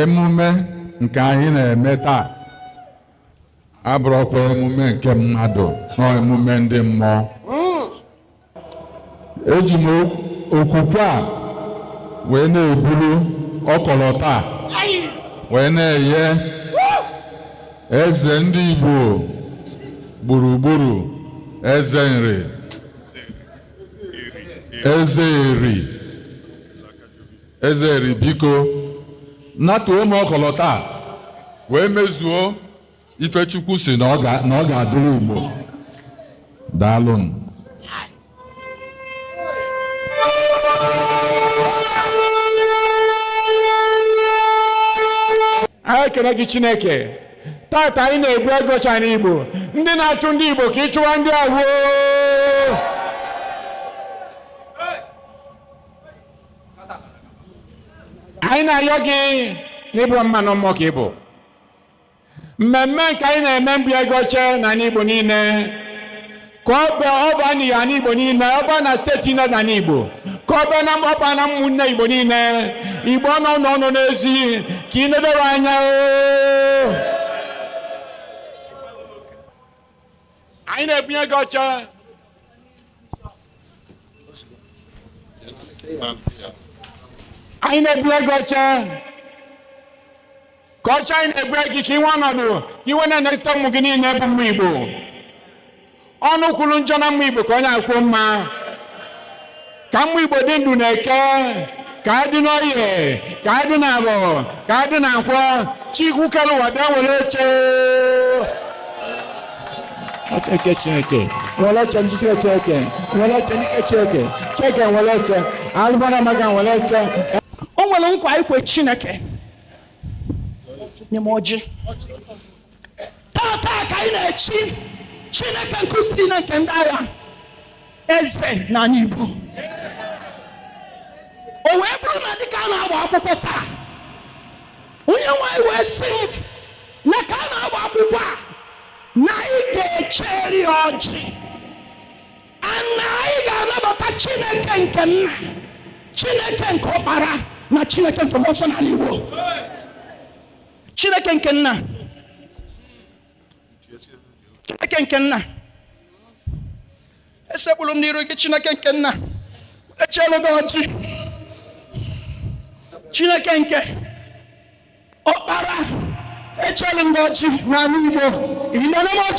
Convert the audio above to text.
emume nke anyị na-eme taa abụrụkwa emume nke mmadụ na emume ndị mmụọ eji m okwukwe a wee na-eburu ọkọlọtọ a wee na-eye eze ndị Igbo gburugburu eze nri eze eri Eze Eri biko natuo m ọkọlọtọ a wee mezuo ife Chukwu sị na ọ ga- na ọ ga-adịrị Igbo daalụnụ anyị ekele gị chineke tata anyị na-ebue gị oche n'igbo ndị na-achụ ndị igbo ka ị chụwa ndị ahụ oo anyị na-ayọ gị na ị bụrọ mmadụ mmụọ ka ị bụ mmemme nke anyị na-eme mbuye gị oche n'ani Igbo niile ka ọ bịa ọ baa n'ani Igbo niile ọ baa na steeti niile n'ani Igbo ka ọ bịa na ọba na ụmụnne Igbo niile Igbo nọ n'ụnọ nọ n'ezi ka ị nedowe anya oo anyị na-ebunye gị oche anyị na-ebunye gị oche ka oche a anyị na-ebue gị ka i nwee ọnọdụ ka i wee na-eneta ụmụ gị niile bụ ụmụ Igbo ọnụ kwuru njọ na ụmụ Igbo ka onye a kwuo mma ka ụmụ igbo dị ndụ n'eke ka a dị n'oye ka a dị n'afọ ka a dị na nkwọ chukwu kere ụwa bịa were oche Chineke Chineke were oche ndị Chineke were oche ndị Chineke Chineke were oche alụmara maka were oche o nwere nkwa ikwe Chineke nye m ọjị tata ka anyị na-echi chineke nke usuu niile nke ndị agha eze n'ani igbo o wee bụrụ na dịka a na-agba akwụkwọ taa onye nwanyị wee sị m na ka a na-agba akwụkwọ a na anyị ga-echeri ọjị a na anyị ga-anabata chineke nke nna chineke nke ọkpara na chineke nke mmụọ nsọ n'ani igbo chineke nke nna chineke nke nna esekpuru m n'iru gị chineke nke nna echeelu m gị ọjị chineke nke ọkpara echeelu m gị ọjị n'ani igbo